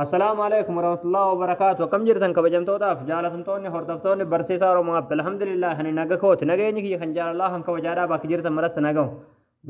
Assalaamu alaikum warahmatullahi wabarakaatu akkam jirtan kabajamtootaaf jaalatamtoonni hordoftoonni barsiisaa Oromoo App alhamdulillah ani naga kooti nageenyi kiyya kan jaalalaa kan kabajaadhaa bakki jirtan maras nagahu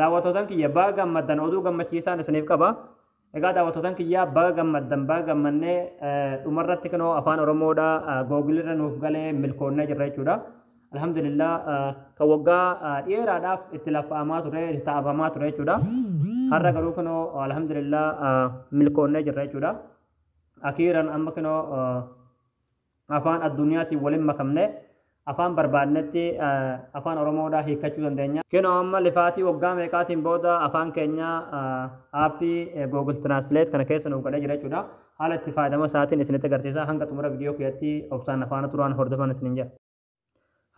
daawwattootan kiyya baga gammaddan oduu gammachiisaan isiniif qaba egaa daawwattootan kiyya baga gammaddan baga gammannee dhumarratti kunoo afaan Oromoodha googilirra nuuf galee milkoonnee jirra jechuudha Alhamdulillah kan waggaa dheeraadhaaf itti laffa'amaa ture, itti taa'abamaa ture jechuudha. Har'a garuu kunoo alhamdulillah milkoonnee jirra jechuudha. Akiiran amma kunoo afaan addunyaatiin waliin makamne afaan barbaadnetti afaan Oromoodhaa hiikkachuu dandeenya. Kunoo amma lifaatii waggaa meeqaatiin booda afaan keenya aappii Google Translate kana keessa nuuf galee jira jechuudha. Haala itti fayyadama isaatiin isinitti agarsiisa. Hanga xumura viidiyoo kiyatti obsaan na faana turaan hordofan isiniin jedha.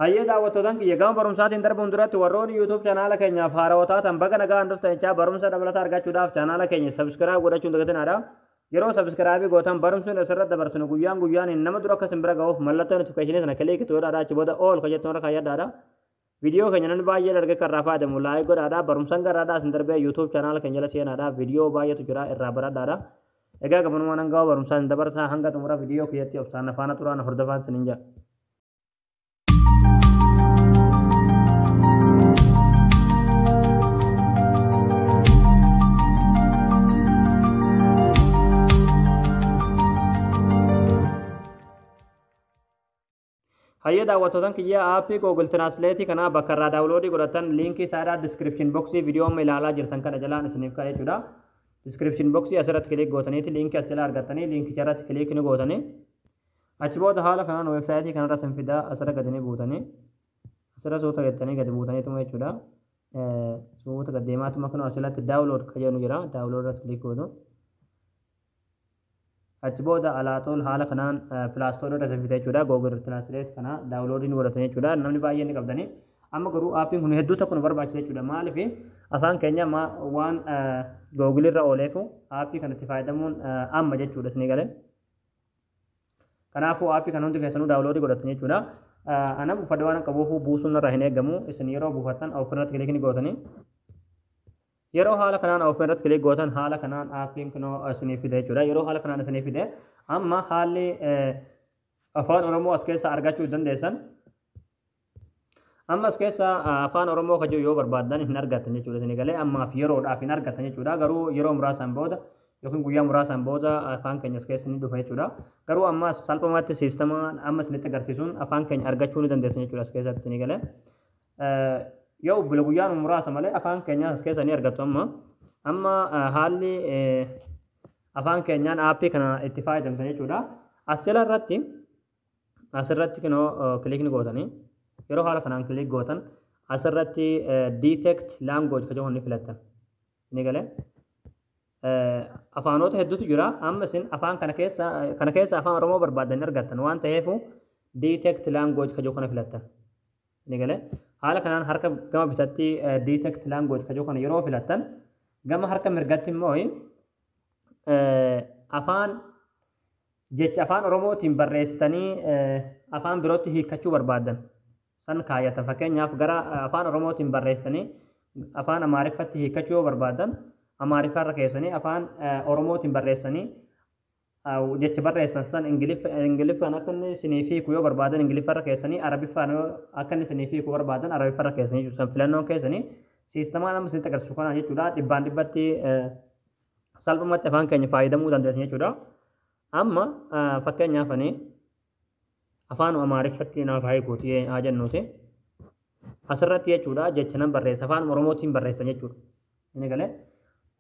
Hayyee daawwattootaan kiyya gama barumsaatiin darbuun duratti warroonni YouTube chanaala keenyaaf haarawaa taatan baga nagaan dhuftan jechaa barumsa dabalataa argachuudhaaf chanaala keenya sabiskiraayib godhachuun dagatinaadha. Yeroo sabiskiraayibii gootan barumsuun asirratti dabarsinu guyyaan guyyaan nama dura akka isin bira ga'uuf mallattoo notifikashinii sana kiliikitu godhaadha achi booda ool kan jettu irra kaayyadhaadha. Video keenya namni baay'een arge kan irraa fayyadamu like godhaadha. Barumsan garraadhaa isin darbee YouTube channel keenya jala seenaadha. Video baay'eetu jira irraa baradhaadha. Egaa gabanumaan hanga barumsaa isin dabarsaa hanga xumura video keessatti obsaan na faana turaa na hordofaan isinin jedha. Hayyee daawwattootan kiyya aappii Google Translate kana bakka irraa daawuloodii godhattan liinkii isaa irraa description box viidiyoo amma ilaalaa jirtan kana jalaan isiniif kaa'e jechuudha. Description box asirratti kiliik gootaniiti liinkii as jalaa argattanii liinkicha irratti kiliik ni gootanii. Achi booda haala kanaan weebsaayitii kanarra isin fidaa asirra gadi ni buutanii asirra suuta jettanii gadi buutaniituma jechuudha. Suuta gad deemaatuma kunoo asirratti daawulood kan jedhu jira daawulood irratti kiliik gootu. Achi booda Alaatool haala kanaan Play Store irra isin fida jechuudha. Google Translate kana download ni godhattan jechuudha. Namni baay'een ni qabdani. Amma garuu aappiin kun hedduu tokko nu barbaachisa jechuudha. Maaliif afaan keenya ma- waan eh, Google irra ooleefu aappii kanatti fayyadamuun eh, amma jechuudha isinii galee. Kanaafuu aappii kana hundi keessanuu daawuloodii godhattan jechuudha. Eh, Ana buufadhee waan qabuuf buusuun irraa hin eegamu. Isin yeroo buufattan open irratti kilikii ni gootanii. Yeroo haala kanaan open irratti click gootan haala kanaan aappiin kunoo isiniif fida jechuudha. Yeroo haala kanaan isiniif fide amma haalli afaan Oromoo as keessaa argachuu dandeessan. Amma as keessaa afaan Oromoo kan jiru yoo barbaaddan hin argattan jechuudha isinii galee ammaaf yeroodhaaf hin argattan jechuudha garuu yeroo muraasaan booda yookiin guyyaa muraasaan booda afaan keenya as keessa ni dhufa jechuudha. Garuu amma salphumatti siistamaan amma isinitti agarsiisuun afaan keenya argachuu ni dandeessan jechuudha as keessatti isinii galee. Yoo ubbule guyyaan muraasa malee afaan keenyaas as keessa ni argattu amma. Amma haalli afaan keenyaan aappii kana itti fayyadamtan jechuudha. As jala irratti asirratti kinoo kilikni gootanii yeroo haala kanaan kilik gootan asirratti detect language kan jedhu ni filattan. Ni galee. Afaanota hedduutu jira. Amma isin afaan kana keessa kana keessa afaan Oromoo barbaadan argattan waan ta'eef detect language kan jedhu kana filattan. Ni galee. Haala kanaan harka gama bitatti detect language kajoo kana yeroo filattan gama harka mirgatti immoo afaan jecha afaan Oromootiin barreessitanii afaan birootti hiikkachuu barbaaddan san kaayatan fakkeenyaaf gara afaan Oromootiin barreessitanii afaan Amaariffatti hiikkachuu yoo barbaaddan Amaariffaarra keessanii afaan Oromootiin barreessanii jecha barreessan san ingiliffaan akka inni isiniif hiiku yoo barbaadan ingiliffarra keessanii arabiffaan akka inni isiniif hiiku barbaadan arabiffarra keessanii jechuudha san filannoon keessanii siistamaan amma isinitti agarsiisu kanaan jechuudha dhibbaan dhibbatti salphumatti afaan keenya fayyadamuu dandeessan jechuudha amma fakkeenyaaf ani Afaanuma Amaariffatti naaf haa hiikuuti haa jennuuti. Asirratti jechuudha jecha nan barreessa afaanuma Oromootiin barreessan jechuudha. Inni galee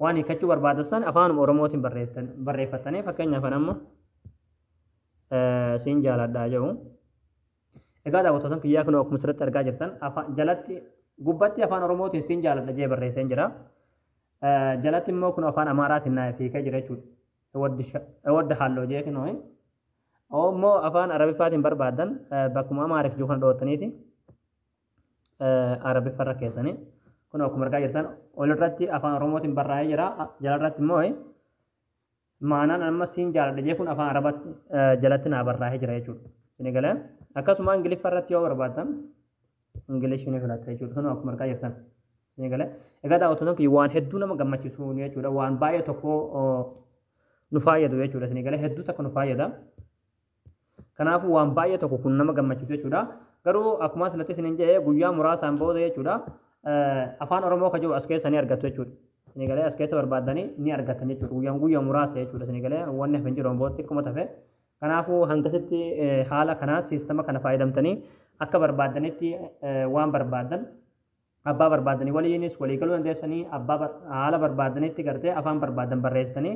waan hiikkachuu barbaadan san afaanuma Oromootiin barreessan barreeffattanii fakkeenyaaf an amma eh, siin jaaladhaa jedhu. Egaa daawwattoota kiyyaa kunoo akkuma asirratti argaa jirtan afaan jalatti gubbatti afaan Oromootiin siin jaaladha jee barreesseen jira. Eh, Jalatti immoo kun afaan Amaaraatiin naaf hiikee jira jechuudha. Ewaddi sha- ewadda halloo jee kunoo. Hoo immoo afaan Arabiffaatiin barbaaddan bakkuma Amaarif jiru kana dhoottaniiti Arabiffa irra keessanii kun akkuma argaa jirtan olirratti afaan Oromootiin barraa'ee jira jalarratti immoo maanaan amma siin jaaladha jee kun afaan Arabatti jalatti naa barraa'ee jira jechuudha. Isin egalee akkasuma Ingiliffa irratti yoo barbaaddan Ingilish ni filatta jechuudha kun akkuma argaa jirtan. Eegalee. Egaa daawwattoota kiyya waan hedduu nama gammachiisu jechuudha. Waan baay'ee tokko nu fayyadu jechuudha. Isin eegalee hedduu takka nu fayyada. Kanaafuu waan baay'ee tokko kun nama gammachiisu jechuudha. Garuu akkuma asirratti isin jedhe guyyaa muraasaan booda jechuudha afaan Oromoo kan jiru as keessa ni argattu jechuudha. Isin eegalee as keessa barbaaddanii ni argattan jechuudha. Guyyaan guyyaa muraasa jechuudha. Isin eegalee wanni hafe hin jiru booda xiqquma tafe. Kanaafuu hangasitti haala kanaan siistama kana fayyadamtanii akka barbaaddanitti waan barbaaddan Abbaa barbaadani waliinis walii galuu dandeessanii abbaa haala barbaadanitti gartee afaan barbaadan barreessitanii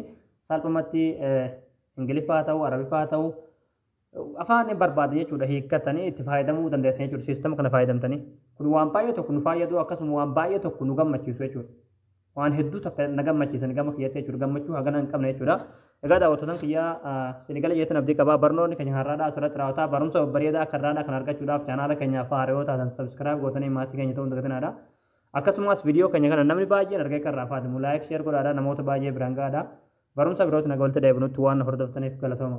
salphumatti Ingiliffaa haa ta'u Arabiffaa haa ta'u afaan barbaada jechuudha hiikkatanii itti fayyadamuu dandeessan jechuudha siistama kana fayyadamtanii kun waan baay'ee tokko nu fayyadu akkasuma waan baay'ee tokko nu gammachiisu jechuudha. waan hedduu takka na gammachiisan gama kiyyatti jechuudha gammachuu hagana hin qabne jechuudha egaa daawwattotan kiyyaa isin gala jeetan abdii qabaa barnoonni keenya har'aadhaa asirratti raawwataa barumsa babbareedaa akka irraadhaa kan argachuudhaaf chaanaala keenyaaf haarayoo taatan sabskiraayib gootanii maatii keenya ta'uun dagatinaadha akkasumas viidiyoo keenya kana namni baay'een argee kan raafaatimu laayik sheer godhaadha namoota baay'ee biraan ga'aadha barumsa birootti naga walitti deebinutti waan hordoftaniif galatooma